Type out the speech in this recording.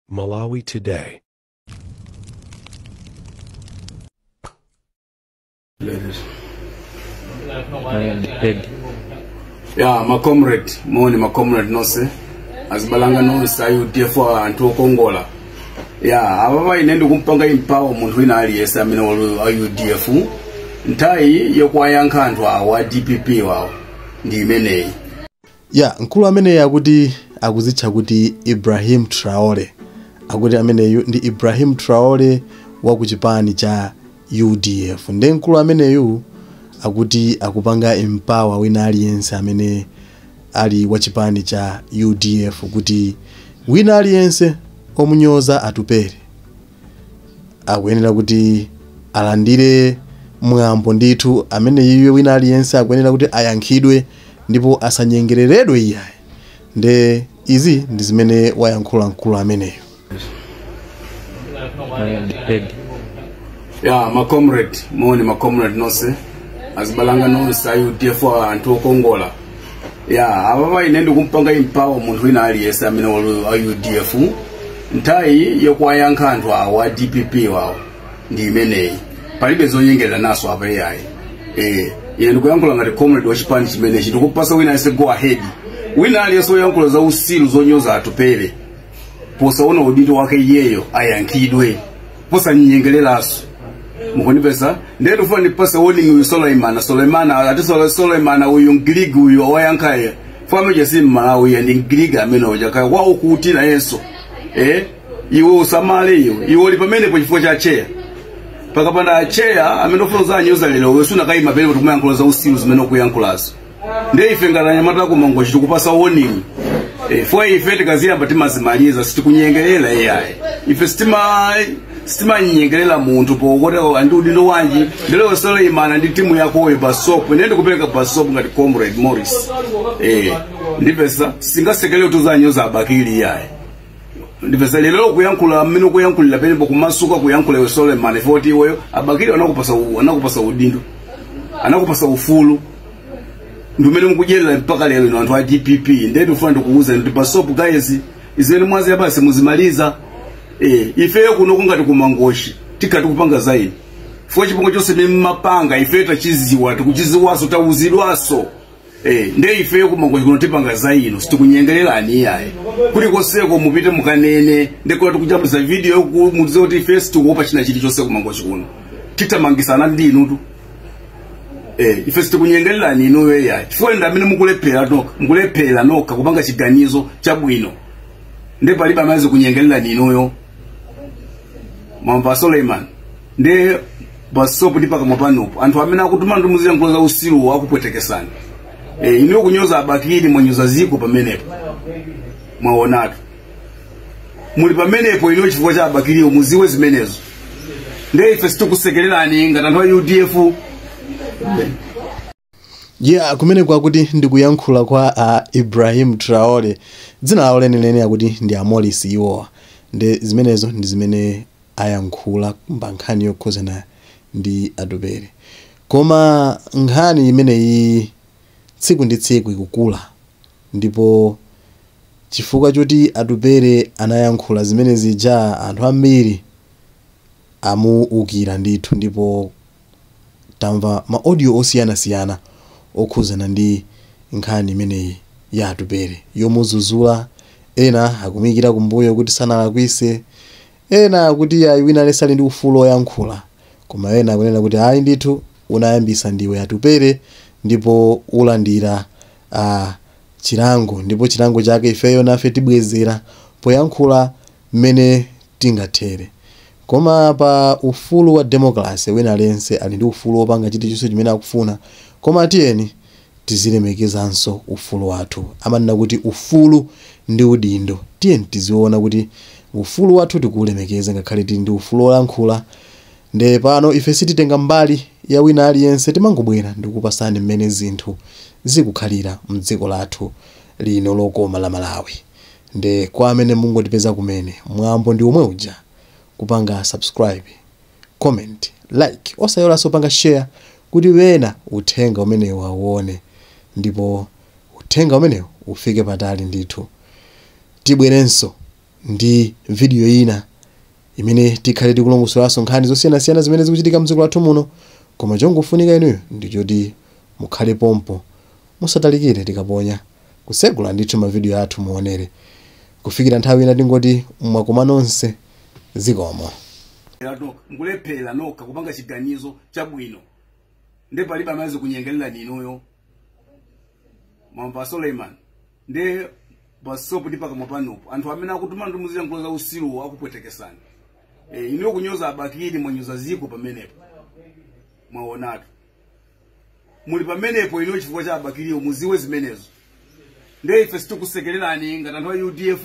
Malawi Today. ya macomrade moni macomrade nonse azibalanga nonse ayi udf anthu okongola ya apapa ine ndikumpanga empower munthu wina aliyese amene wali a udf nthawi yokuwayankha anthu awa a dpp wawo ndi imeneyi ya mkulu ameneyi akuti akuzitcha kuti ibrahim traore akuti ameneyu ndi ibrahim traore wa ku chipani cha udf nde mkulu ameneyu akuti akupanga empower wina aliyense amene ali wa chipani cha udf kuti wina aliyense omunyoza atupere akuyenera kuti alandire mwambo ndithu amene iye wina aliyense akuyenera kuti ayankhidwe ndipo asanyengereredwe iyayi nde izi ndi zimene wayankhula mkulu ameneyo ya macomrade moni macomrade nonse azibalanga nonse a udf anthu okongola ya apapa ine ndikumpanga empower munthu wina aliyense amene ali wa udf nthawi yokuwayankha anthu awa a dpp wawo ndi imeneyi palibe zonyengerera naso apa iyayi eh ine ndikuyankhula ngati comrade wa chipani chimenechi ndikupasa wina aliyense go ahead wina aliyense woyankhula za usilu zonyoza atupele posaona udindo wake iyeyo ayankhidwe posanyengeleraso mukunimvesa ndiye ndifuna ndimpase warning uyu suleimana suleimana ati Sule- suleimana uyu mgiriki uyu owayankhaye famiche si mmalawi ya ndi mgiriki amene uja kaya kwawo kuti nayenso eh iwe usamale iwe iwe uli pamenepo chifukwa cha cheya pakapanda cheya amene ufuna uzinyoza lero iweyo sunakayima penepo kuti kumayankhula za usiru zimene ukuyankhulazo ndiye ife ngati anyamata ku mangochi tikupasa warning Eh, fo ife tikaziyamba timazimaliza sitikunyengerera iyayi ife sitima sitimanyengerera munthu pokuti ali ndi udindo wanji nde lero suleimana ndi timu yakoyo basopo ine ndikupereka basopo ngati comrade morris eh, ndimvesa sitingasekelere kuti uzinyoza abakili iyayi ndimvesa lero ukuyankhula mmene ukuyankhulira penepo kumasuka kuyankhula iwe suleimani foti iweyo abakiri anakupasa u- anakupasa udindo anakupasa ufulu ndi umene mukudyerera mpaka lero ino anthu a dpp ndiye ndikufuna ndikuwuze kuti basopo guys izi zimene mwaziyambazi muzimaliza eh, ifeyo kuno kungati kumangochi tikati kupanga zaife fo chipongo chonse mmapanga ifeyo tachiziwa tikuchiziwaso tawuzidwaso Eh, nde ifeyo ku Mangochi kuno tipanga za ino sitikunyengererani iyayi kuli konseko mupite mukanene ndekuti tikujambulisa video yoku- mudziwe kuti ife sitikuopa china chilichonse ku Mangochi kuno titamangisana ndi inutu eh, ife sitikunyengererani inuyo iyayi chifukwa ndi amene mukulephera nokha mukulephera nokha kupanga chiganizo chabwino nde palibe amene azikunyengererani inuyo mwamva a Suleiman nde basopu ndi pakamwa panopo anthu amene akutumani muziyankhula za usiruwo akupwetekesani e, inuyo kunyoza a Bakili mwanyoza ziko pamenepo mwaonatu muli pamenepo inuyo chifukwa cha a Bakiliwo muziwe zimenezo ndiye ife sitikusekererani ngati anthu a UDF Yeah, kumeneko akuti ndikuyankhula kwa uh, Ibrahim Traore dzina lawo lenileni akuti ndi a Morris iwowa ndi zimenezo ndi zimene ayankhula pa nkhani yokhuzana ndi Atupele koma nkhani imeneyi tsiku ndi tsiku ikukula ndipo chifukwa choti Atupele anayankhula zimene zija anthu ambiri amuukira ndithu ndipo tamva ma audio osiyanasiyana okhuzana ndi nkhani imeneyi ya Atupele yomuzuzula ena akumuyikira kumbuyo kuti sanalakwise ena akuti iyayi wina aliyense ali ndi ufulu oyankhula koma ena akunena kuti ayi ndithu unayambisa ndiwe Atupele ndipo ulandira chilango ndipo chilango chake ifeyo nafe tibwezera poyankhula mmene tingathere. Koma pa ufulu wa democracy wina aliyense ali ndi ufulu wopanga chilichonse chimene akufuna koma tiyeni tizilemekezanso ufulu wathu. Amanena kuti ufulu ndi udindo. Tiyeni tiziona kuti ufulu wathu tikuulemekeza ngakhale tili ndi ufulu wolankhula nde pano ife sititenga mbali ya wina aliyense timangobwera ndikupasani mmene zinthu zikukhalira mdziko lathu lino lokoma la Malawi. Nde kwa amene mungotipeza kumene mwambo ndi omwe uja kupanga subscribe, comment, like osaiwalanso kupanga share kuti ena uthenga umenewu awuone ndipo uthenga umenewu ufike patali ndithu. Tibwerenso ndi video ina imene tikhale tikulongosolanso nkhani zosiyanasiyana zimene zikuchitika mdziko lathu muno koma chongofunika inuyo ndi choti mukhale pompo musatalikire tikaponya kutsegula ndithu mavidiyo athu muonere kufikira nthawi ina tingoti mwakomana nonse zikomo mukulephera nokha kupanga chiganizo chabwino nde palibe amene azikunyengererani inuyo mwamva suleiman ndi basopu ndi pakamwa panupo anthu amene akutuma kuti muziyankhula za usiruwo akupwetekesani e, inuyo kunyoza abakiri mwanyoza dziko pamenepo mwaonatu muli pamenepo inuyo chifukwa cha abakiriwo mudziwe zimenezo ndiye ife sitikusekererani ngati anthu a udf